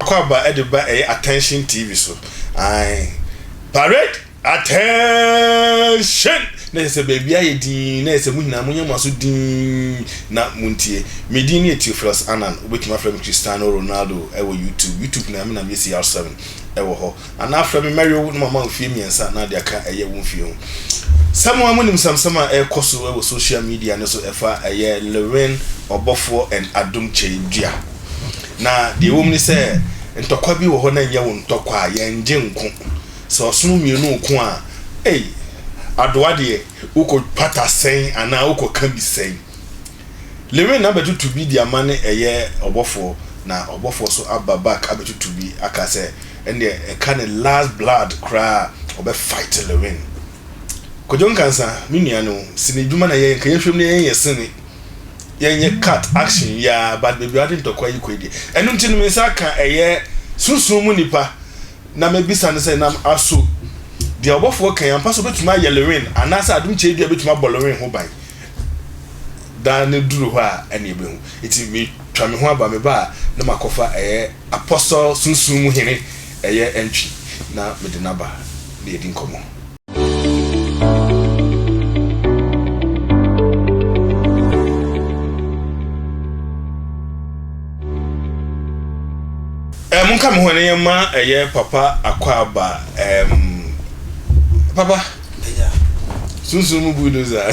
Akwaaba de ba ɛyɛ attention TV so. Ae. Parade! Attention! Na ɛsɛ sɛ baabi ayɛ dinn, na ɛsɛ sɛ mo nyinaa monyɛ mo aso dinn na montie. Me din ne Theophilus Annan, wobɛtumi afrɛ me Cristiano Ronaldo wɔ YouTube, YouTube na me na meyɛ CR7 wɔ hɔ. Anaa frɛ me mɛwe wo na mama wo mfeɛ mmiɛnsa na deɛ aka ɛyɛ wo mfeɛ ho. Sɛ mo ara monim nsɛmsɛm a ɛrekɔ so wɔ social media no so ɛfa ɛyɛ Lewin Ɔbɔfoɔ and Adom Kyɛedua. Na deɛ ɛwɔ mu ne sɛ ntɔkwa bi wɔ hɔ na ɛnyɛ wo ntɔkwa a, yɛn gye nko. Sɛ ɔsono mmienu nko a, ei, adoa deɛ, wokɔ pata sɛn anaa wokɔ ka bi sɛn. Lewin abɛtoto bi de ama ne ɛyɛ ɔbɔfoɔ, na ɔbɔfoɔ nso aba back abɛtoto bi aka sɛ ɛnneɛ ɛka ne last blood koraa a, ɔbɛ fight Lewin. Kojo Nkansa, me nua no, sini dwuma na yɛyɛ, nka yɛnhwɛ mu na yɛnyɛ sini, yɛnyɛ cut action yi ara, but baabi a wode ntɔkwa yi kɔ yi deɛ, ɛno nti no me nsa aka ɛyɛ sunsum mu nipa. na mebisa ne sɛ, Nam aso deɛ ɔbɔfoɔ kae ampa sɛ ɔbɛtumi ayɛ Lewin anaasɛ adom kyɛ dua bɛtumi abɔ Lewin ho ban? Daa ne duru hɔ a ɛne ɛbɛhu. Eti metwa me ho aba me ba a na makɔfa ɛyɛ apɔsɔ sunsun mu hene ɛyɛ ɛntwi na mede n'aba na yɛdi nkɔmmɔ. Eh, monka me ho ne yɛma ɛyɛ eh, papa akwaaba um, papa sunsun mu bulldozer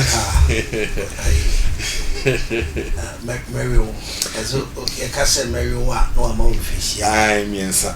mɛwe wo ɛso ɛka sɛ mɛwe wo a na wama wo mfirihyia mmiɛnsa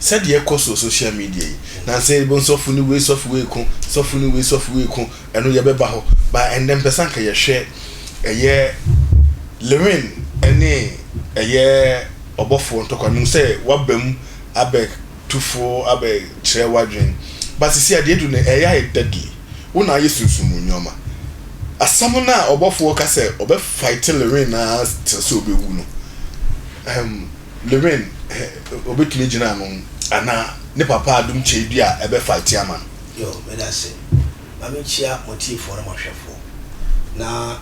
Sɛdeɛ ɛkɔ soɔ social media yi, nansa yi yɛbɛhu sɔfo ne wei sɔfo wei ko, sɔfo ne wei sɔfo wei ko, ɛno yɛbɛba hɔ. But ɛndɛ mpɛ sɛ anka yɛhwɛ ɛyɛ Lewin ɛne ɛyɛ ɔbɔfoɔ ntɔkwa. Mehu sɛ waba mu abɛtu fo abɛkyerɛ w'adwen. But sisi a deɛ adu no ɛyɛ ayɛ deadly. Wo na ayɛ sunsum mu nnoɔma. Asɛm no a ɔbɔfoɔ ka sɛ ɔbɛ fight Lewin ara kyerɛ sɛ ɔbɛwu no. Ɛhm. Lorraine he obetumi gyina ano anaa ne papa adom kyɛe bi a ɛbɛ fighte ama no. Yoo medase. Ma me nkyia mo atiefoɔ ne mo ahwɛfoɔ. Na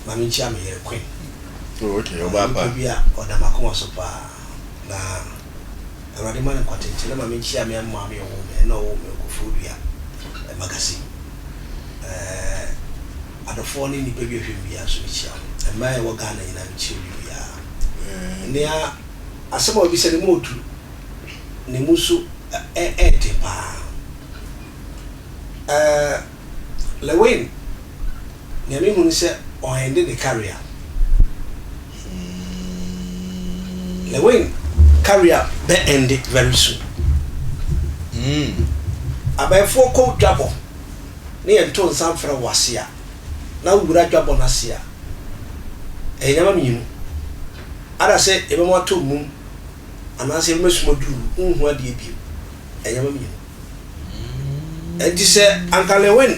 ma me nkyia me yere Queen. Oh ok, ɔyɛ nipa bi a ɔda m'akoma so paa. Na Awurade mma no nkwatenkye. Na ma me nkyia me maame a ɔwoo me, ɛna ɔwoo me wɔ Koforidua magazine. Ɛɛɛ. Adɔfoɔ ne nnipa bi a ɛhwɛ wiase so no kyia mo. Mmaa a ɛwɔ Ghana nyinaa no kyia obi biara. Nea asɛm a ɔbisa no mu ɔdu ne mu so ɛɛden paa. Ɛɛ Lewin nea me hu ne sɛ ɔ ende ne career. Lewin career bɛ ende very soon. Abayefoɔ kɔ dwabɔ ne yɛn to nsa mfrɛ wo ase a, na wo wura dwabɔ no ase a, ɛyɛ nneɛma mmienu. Ada sɛ yɛbɛma watɔ mmum anaasɛ yɛbɛma sum aduru wo, wonhu adeɛ bio. Ɛyɛ nneɛma mmienu. Enti sɛ anka Lewin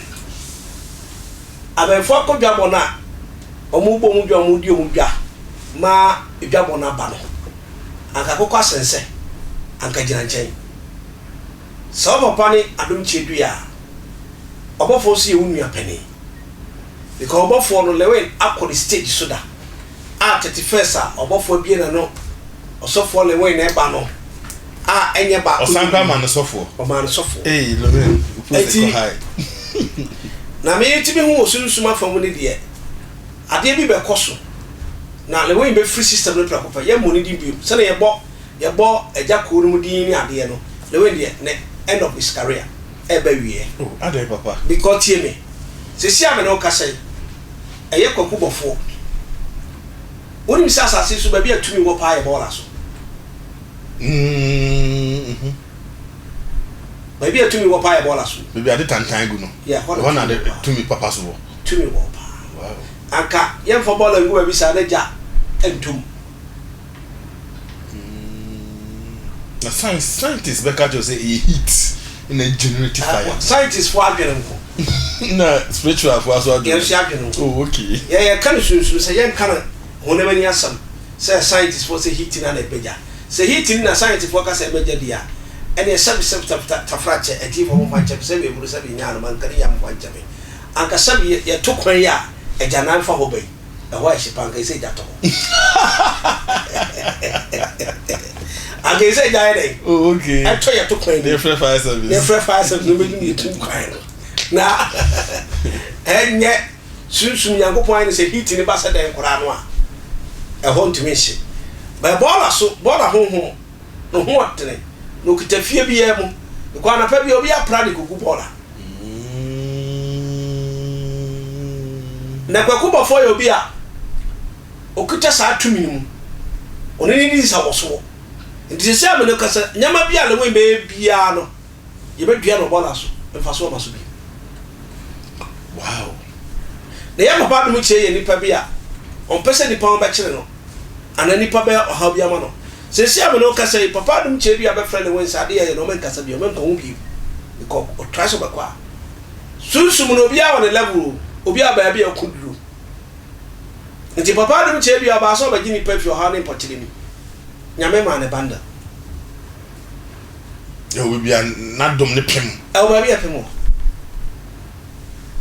abɛɛfo akɔ dwabɔ no a, wɔbɔ wɔn dwa, wɔdi wɔn dwa ma dwabɔ no aba no, anka akokɔ asɛnsɛ, anka gyina nkyɛn. Sɛ wo papa ne adom kyɛ dui a, ɔbɔfoɔ nso yɛ wo nua panin. Because ɔbɔfoɔ no, Lewin akɔ ne stage so da a 31st a ɔbɔfoɔ abue n'ano, ɔsɔfoɔ Lewin na ɛba no a ɛnyɛ baako Ɔsan koraa maa no sɔfoɔ. Ɔmaa no sɔfoɔ. Hey Lewin, wo post Enti, kɔ high. na me nti me hu wɔ sunsum afa mu ne deɛ, adeɛ bi bɛkɔ so na Lewin bɛfiri system no prɛko pɛ. Yɛmmɔ ne din bio. Sɛdeɛ yɛbɔ Yɛbɔ agya kuo no mu din ne adeɛ no na wei deɛ na end-of his career ɛreba awieɛ. Oh adɛn papa? Because tie me, seesei a me ne wo kasa yi, ɛyɛ Kwaku Bɔfoɔ. Wonim sɛ asase yi so baabi a tumi wɔ paa yɛ bɔɔla so. Mm-hmm. Baabi a tumi wɔ paa yɛ bɔɔla so. Baabi a ade tantan gu no, Yeah, hɔ na ɛhɔ na tumi wɔ ade paa. tumi papa so wɔ. Tumi wɔ paa. Wow. Anka yɛmfa bɔɔla ngu baabi saa na gya ntom. na science scientist bɛka kyerɛ sɛ ɛyɛ heat na generate ah, fire. scientist fo adwene nko. na spiritual fo aso adwene. yɛn so adwene nko. oh okay. yɛ yɛ ka no sunsun sɛ yɛn ka no honam ani asɛm sɛ scientist fo sɛ heat na na ɛbɛgya sɛ heat ni na scientist fo aka sɛ ɛbɛgya di a ɛne sɛbi sɛbi tafta tafra kyɛ ɛti fo mo fa nkyɛn sɛbi eburu sɛbi nyaa no ma nka ne yam fa nkyɛn anka sɛbi yɛ to kwan yi a ɛgya nan fa hɔ bɛyi. Ɛhɔ ayɛ hye paa, anka ɛsɛ sɛ egya tɔ hɔ. Anka ɛsɛ sɛ egya yɛ dɛn? Oh, okay. Ɛtɔ yɛ to kwan mu. Na yɛfrɛ fire service. Na yɛfrɛ fire service na wɔbɛdum yɛtum kwan no. Na ɛnyɛ sunsum Nyankopɔn ayɛ no sɛ heat no ba sɛ dɛn koraa no a, ɛhɔ ntumi nhye. Bɛ bɔɔla so, bɔɔla honhom. no ho atene, na okita fie biara mu de kɔ. Anapa bi, obi apra de kogu bɔɔla. Na Kwaku Bɔfoɔ yɛ obi a okita saa tumi no mu. Ɔne no di nsawɔsoɔ. Nti seesei a me ne wo kasa, nneɛma bi a Lewin bɛyɛ biara no, yɛbɛdua no bɔɔla so, mfasoɔ ba so bio. Wow! Na yɛn papa adom kyerɛ yɛn nipa bi a ɔmpɛ sɛ nipa ho bɛkyere no, anaa nipa bɛyɛ ɔhaw bi ama no. Seesei a me ne wo kasa yi, papa adom kyerɛ bi a bɛfrɛ no Wins, adeɛ yɛyɛ no ɔmɛ nkasa bio, ɔmɛ nkɔ ho bio, bikɔ ɔtrae sɛ ɔbɛkɔ a, sunsum no obiara wɔ ne level o, obiara baabi a ɔko duro. Nti papa adom kyerɛ bi a ɔbaa sɛ ɔbɛgye nipa afiri ɔhaw ne mpɔkyere mu, Nyame maa no bundle. Ɛwɔ baabi a n'adom no pem. Ɛwɔ baabi a ɛpem wɔ.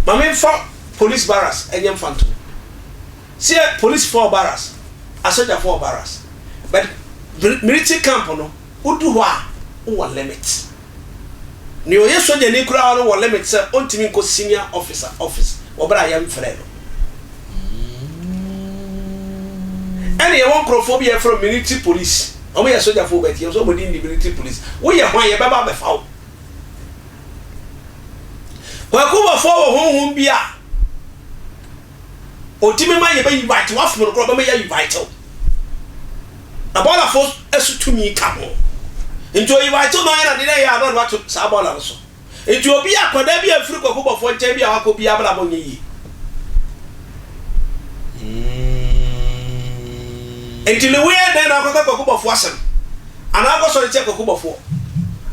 Ma memfa polis barracks nyɛ mfantom. Sɛ polisifo wɔ barracks, asogyafo wɔ barracks, but military camp no, wodu hɔ a, wowɔ limit. Nea ɔyɛ sogyani koraa no wɔ limit sɛ ontumi nkɔ senior officer office wɔ bere a yɛmfrɛɛ no. Ɛnna yɛwɔ nkurɔfoɔ bi a yɛfrɛ wɔn military police. Ɔmo yɛ sogyafoo but yɛpɛ sɛ ɔmo din de military police. Wo yɛ hwan? Yɛbɛba abɛfa wo. Kwaku Boafo wɔ honhom bi a ɔtumi ma yɛbɛ invite wo, afom no koraa ɔbɛma yɛ invite wo. Na bɔɔla fo so tumi ka ho. Nti ɔ invite wo na ɔyɛ no adeɛ na ɛyɛ a na ɔde wo ato saa bɔɔla no so. Enti obi a akwadaa bi amfiri kwakubɔfoɔ nkyɛn bi a wakɔ bi abrabɔ nyɛ yie. Enti ne woyɛ dɛn na akɔka kwakubɔfoɔ asɛm? Anaa akɔsɔre tia kwakubɔfoɔ?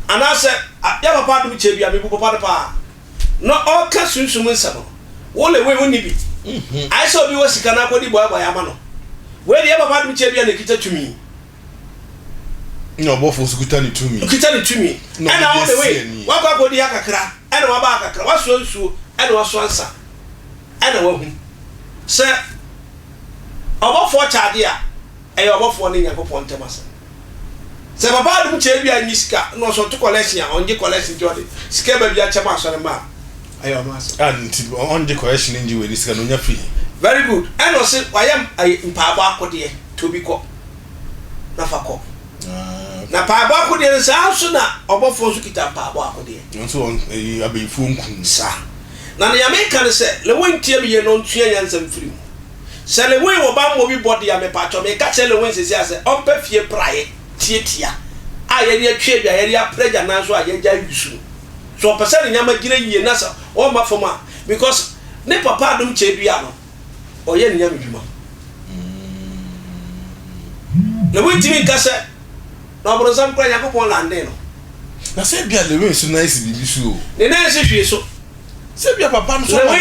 Anaasɛ yɛ papa adom kyɛ bi a mebu papa no paa na ɔka sunsum nsɛm no wo le wei wonni bi ayɛ sɛ obi wɔ sika na akɔdi bɔɛbɔɛ ama no wei de yɛ papa adom kyɛ bi a na ɛkita tumi na ɔbɔfo nso kuta ne tumi. Ɔkuta ne tumi. Ɛna wo de wei, wakɔ akɔdi ha kakra, ɛna waba ha kakra, wasoa nsuo, ɛna wasoa nsa, ɛna wahu sɛ ɔbɔfoɔ kyɛ adeɛ a, ɛyɛ ɔbɔfoɔ ne Nyankopɔn ntam asɛm. Sɛ papa adom kyɛ bi a nnye sika, na ɔsɛ ɔto collection a, ɔngye collection nti ɔde sika ba bi akyɛ ma asɔre mma a, ɛyɛ ɔno asɛm. Ah, nti ɔngye collection ngye wei ne sika na ɔnya fee. Very good. Ɛna ɔse wayɛ mpaabɔ akodeɛ, to bi kɔ. na fa kɔ. Ah, okay. Na mpaebɔ akodeɛ no saa nso na ɔbɔfoɔ nso kita mpaebɔ akodeɛ. Nso wɔn ɛyi abɛyifoɔ nkum. Sa. Na nea meka ne sɛ Lewe ntie me yie na ɔnsua nyansa mfiri mu. Sɛ Lewe wɔ bammɔ bi bɔ deɛ a mepaatwɔ meka kyerɛ Lewe seesei a sɛ ɔmpɛ fie praeɛ tiatia a yɛde atwi adwa a yɛde apra agya nan so a yɛagyae wisu no. Sɛ ɔpɛ sɛ ne nneɛma gyina yie na sɛ ɔmma fam a because ne papa adom kyɛ dua no. ɔyɛ ne nyame dwuma. Na wontumi nka sɛ na ɔbronsam kora Nyankopɔn landee no. Na sɛ ebia Lewin nso nan si biribi so o. Ne nan nsi hwee so. Sɛ ebia papa no nso ama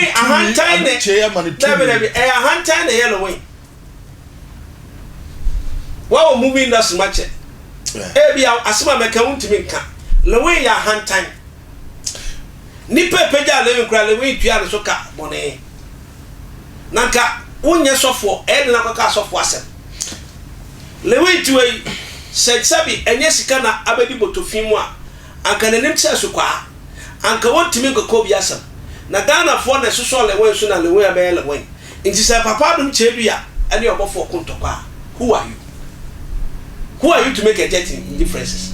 ne tumi, anigyeɛ ama ne tumi. Dabi dabi, ɛyɛ ahantan na ɛyɛ Lewin. Wawɔ movie industry mu akyɛ. Ebia asɛm a mɛka wontumi nka. Lewin yɛ ahantan. Nnipa a ɛpagyaa Lewi no koraa, Lewi tuaa ne so ka bɔne. Na anka wonyɛ sɔfoɔ, ɛyɛ den akɔka asɔfoɔ asɛm. Lewi ntiwa yi, sɛ sɛbi ɛnyɛ sika na abɛdi botofi mu a, anka n'anim kyerɛ so kwaa. Anka wɔntumi nkɔka obi asɛm. Na Ghanafoɔ na ɛsosɔɔ Lewin so na Lewin abɛyɛ Lewin. Nti sɛ Papa Adom Kyebia ne ɔbɔfoɔ ko ntɔkwa a, who are you? Who are you to make a dent in differences?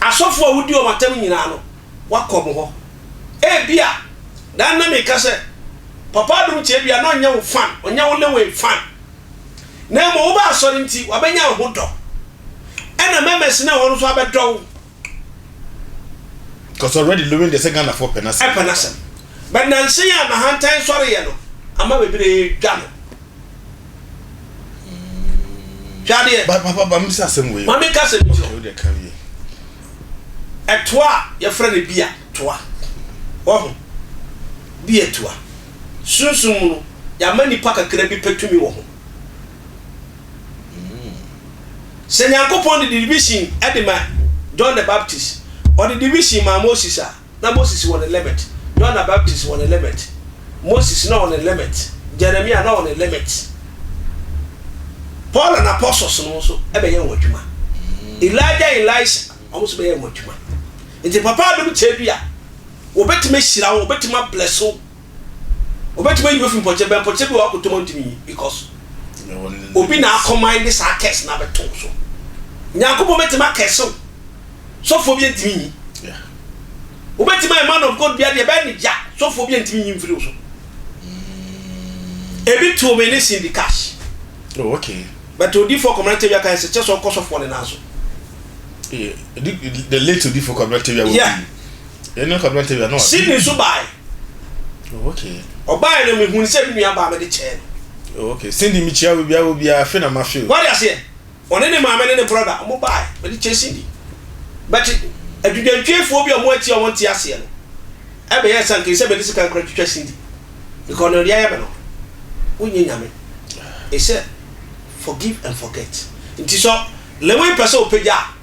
Asɔfoɔ a wodi wɔn atam nyinaa no, woakɔ wɔn hɔ. Ebia na na meka sɛ Papa Adom Kyebia na ɔnyɛ wo fan, ɔnyɛ wo Lewin fan. Na mmom woba asɔre nti, wabɛnya wo ho dɔ. Ɛna Memes ne wɔn nso abɛdɔ wo. Because already Lewin deɛ sɛ Ghana foɔ pɛ n'asɛm. Ɛpɛ n'asɛm. But nansa yi a n'ahantan sɔreeɛ no ama bebree dwa no. Hwɛ adeɛ. Ba papa ba mi sɛ asɛm wei. Maame ka asɛm bi kyerɛ. Okay o deɛ ka wie. Ɛtoa a yɛfrɛ no bia toa. Wahu? Bia toa. Sunsum mu no yɛama nipa kakra bi pɛ tumi wɔ ho. Sɛ Nyankopɔn de division de ma John the Baptist, Ɔde division maa Moses a, na Moses wɔ ne limit, John the Baptist wɔ ne limit, Moses na ɔwɔ ne limit, Jeremiah na ɔwɔ ne limit, Paul and Apostles no nso bɛyɛɛ wɔn adwuma, Elijah and Elisha wɔn nso bɛyɛɛ wɔn adwuma. Nti Papa adom tadua, wɔbɛtumi ahyira wo, wɔbɛtumi abless wo, Obetumi ayi me afi mpɔkyɛ bɛn mpɔkyɛ bi wɔ hɔ akoto mu a ontumi nyi because obi na akɔman de saa curse no abɛto wo so. Nyankopɔn betumi akɛse wo. Sɔfoɔ bi ntumi nyi. Obetumi ayɛ man of God bi adeɛ bɛyɛ ne gya sɔfoɔ bi ntumi nyi mfiri wo so. Ebi too me ne Cindy Cash. Oh, okay. But Odifo Komena Tewia kan se kyɛ sɛ ɔkɔ sɔfoɔ ne nan so. Yeah, the late Odifo Komena Tewia. Yeah. Sydney nso baeɛ. Ɔbaeɛ no mehunu sɛ me nua baa mede kyɛɛ no. Okay, Cindy mekyia wo biara wo biara afe na mafe o. Wade aseɛ, ɔne ne maame ne ne brɔda ɔmo baeɛ mede kyɛɛ Cindy. But adwudwantwiefoɔ bi a ɔmo ati a ɔmo nte aseɛ no ɛbɛyɛɛ sɛ anka ɛsɛ mede sika koraa twitwa Cindy because nea ɔde ayɛ me no wonyɛ Nyame. Ɛsɛ forgive and forget. Nti sɛ Lewin pɛ sɛ ɔpagya a.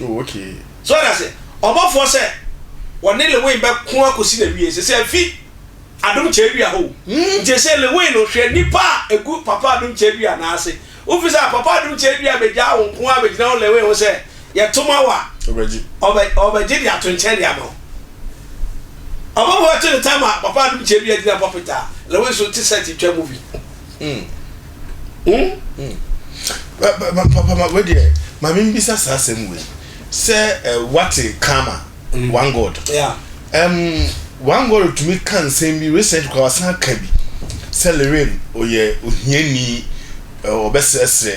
Oh okay. So ate ase? Ɔbɔfoɔ sɛ wɔne Lewin bɛko akɔsi n'awieɛ. Sesei afi Adom Kyɛ Dua hɔ o. Nti ɛsɛ Lewin no hwɛ nnipa a ɛgu Papa Adom Kyɛ Dua nan ase. Wofi sɛ Papa Adom Kyɛ Dua bɛgyaa wo nko ara bɛgyina wo Lewin ho sɛ yɛto ma wo a, ɔbɛgye de ato nkyɛn de ama wo. Ɔbɔfoɔ bɛto ne time a Papa Adom Kyɛ Dua gyina pulpit a, Lewin nso te set twa movie. Hmm. Hmm? Hmm. Ba- ba- ba- papa ma wei deɛ maame mbisa saa asɛm wei sɛ eh, wate kama Mm. one god Yeah. um, one god tumi ka nsɛm bi recent kora wasan ka bi sɛ leren ɔyɛ ohiani eh, ɔbɛsrɛsrɛ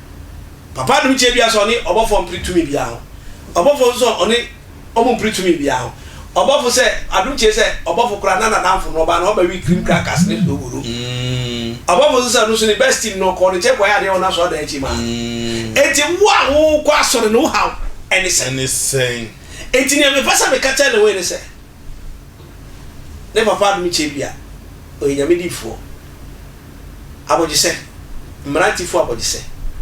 Papa Adom kyerɛ bia sɛ ɔne ɔbɔfoɔ mpere tumi biara ho. Ɔbɔfoɔ nso sɛ ɔne ɔmo mpere tumi biara ho. Ɔbɔfo sɛ Adom kyerɛ sɛ ɔbɔfo koraa na nadamfo no ɔbaa no ɔma wii cream crackers ne snow woro. Ɔbɔfo nso sɛ ɔno nso ne best team no ɔkɔɔ ne nkyɛn kɔyɛ adeɛ wɔ n'asɔre dan akyi maa no. Enti wo a wokɔ asɔre no wo haw ɛne sɛn? Enti nea mepɛ sɛ meka kyerɛ Lewin ne sɛ. Ne papa adom kyɛ bi a, ɔyɛ Nyame difoɔ. Abɔgyesɛ, mmerante fo abɔgyesɛ,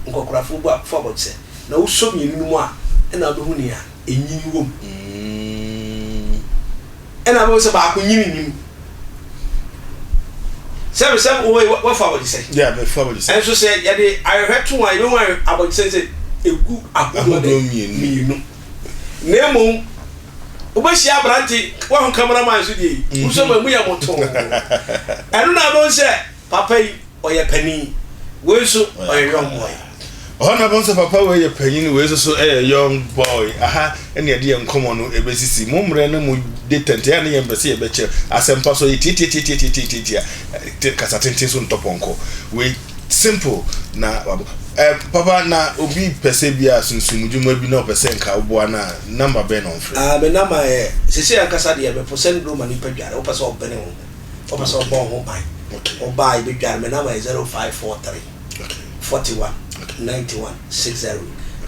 nkɔkorafo bu fo abɔgyesɛ, na wo sɔ mmienu no mu a ɛna wobɛhu nea ɛnyini wɔ mu. Ɛna wobɛhu sɛ baako nyini nni mu. Sɛ me sɛ wowei wafo abɔgyesɛ. Yeah, me fo abɔgyesɛ. Ɛnso sɛ yɛde ahwehwɛ to a, yɛbɛhu abɔgyesɛ sɛ ɛgu ahodoɔ mmienu. Na mmom wobɛhyia aberante waho cameraman so deɛ yi wosɔ ma mu yɛ motoo ɛno na abɛhu sɛ papa yi ɔyɛ panin wei nso ɔyɛ young boy ɔhɔ na bɛhu sɛ papa wei yɛ panyin wei nso so ɛyɛ young boy aha ɛne ɛde yɛ nkɔmmɔ no ɛbɛsisi mo mmerɛ no mu de tɛntɛn a ne yɛ mpɛ sɛ yɛbɛkyɛ asɛmpa so yɛ tiatiatiatiatiatiatia kasa tenten so ntɔpɔnkɔ wei Simple na wabɔ eh, papa na obi pɛsɛ bi a sunsumudwuma bi na ɔpɛ sɛ nka woboa no a number bɛn na ɔmfrɛ? Ah me number yɛ, sesei ankasa deɛ mepo sɛnduro ma nipa dware, wopɛ sɛ ɔbene wo ho, wopɛ sɛ ɔbɔ wo ho ban, woba a yɛbɛdware, me number yɛ zero five four three, forty one, ninety one, six zero,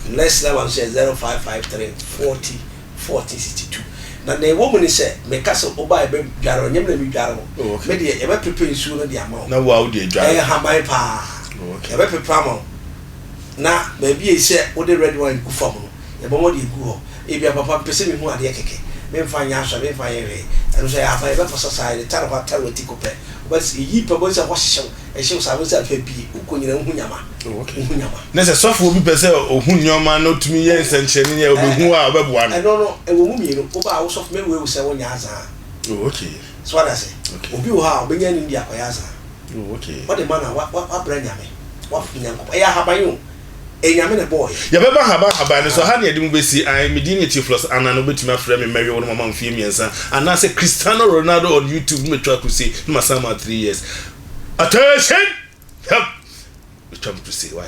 next number nso yɛ zero five five three, forty. 1462 na nea ɛwɔ mu ne sɛ, Meka sɛ wo ba a yɛbɛdware wo, ɛnyɛ me na medware wo. Oh, okay. Me deɛ, yɛbɛpepa nsuo no de ama wo. Na wo a wode adware. Ɛyɛ nhaban paa. Oh, okay. Yɛbɛpepa ama wo, na baabi a ɛsɛ wode red wine gu fam no, yɛbɛma wode agu hɔ. Ebia, papa, mepɛ sɛ mehu adeɛ kɛkɛ. Memfa nyɛ asɔre, memfa nyɛ hwee. Ɛno nso, ɛyɛ ahaban. Yɛbɛpɔsɔsa, yɛde tarpaw atare w'ati ko pɛ. Wobɛte, eyi pɛ, wobɛhu sɛ ɛhɔ hyehye wo. Ɛhyɛ wo saa ho sɛ afei pii wokɔ nyinaa wohu nyama. Wohu nyama. Ne sɛ sɔfoɔ bi pɛ sɛ ɔhu nneɛma na ɔtumi yɛ nsɛnkyerɛnne yɛ ɔbɛhu a ɔbɛboa no. Ɛno no ɛwɔ mu mmienu. Woba a wo sɔfo mɛwue wo sɛ wonyɛ azan a. Oh okay. So wate ase? Okay. Obi wɔ hɔ a ɔbɛnya anim de akɔyɛ azan. Oh okay. Ɔde ma no a wa wa wabrɛ Nyame. Wapo Nyankopɔn. Ɛyɛ ahaban o. Enyame na ɛbɔɔ yɛn. Yɛbɛba haban haban no so, ha na yɛde mo bɛsi, ae, me din yɛ Theophilus Annan, wobɛtumi afrɛ me Mmɛwe Wo na mama wo mfeɛ mmiɛnsa, anaasɛ Cristiano Ronaldo on YouTube na matwa crusade na masan ama wo three years. Attention! Hwɛm! Matwa me crusade, why?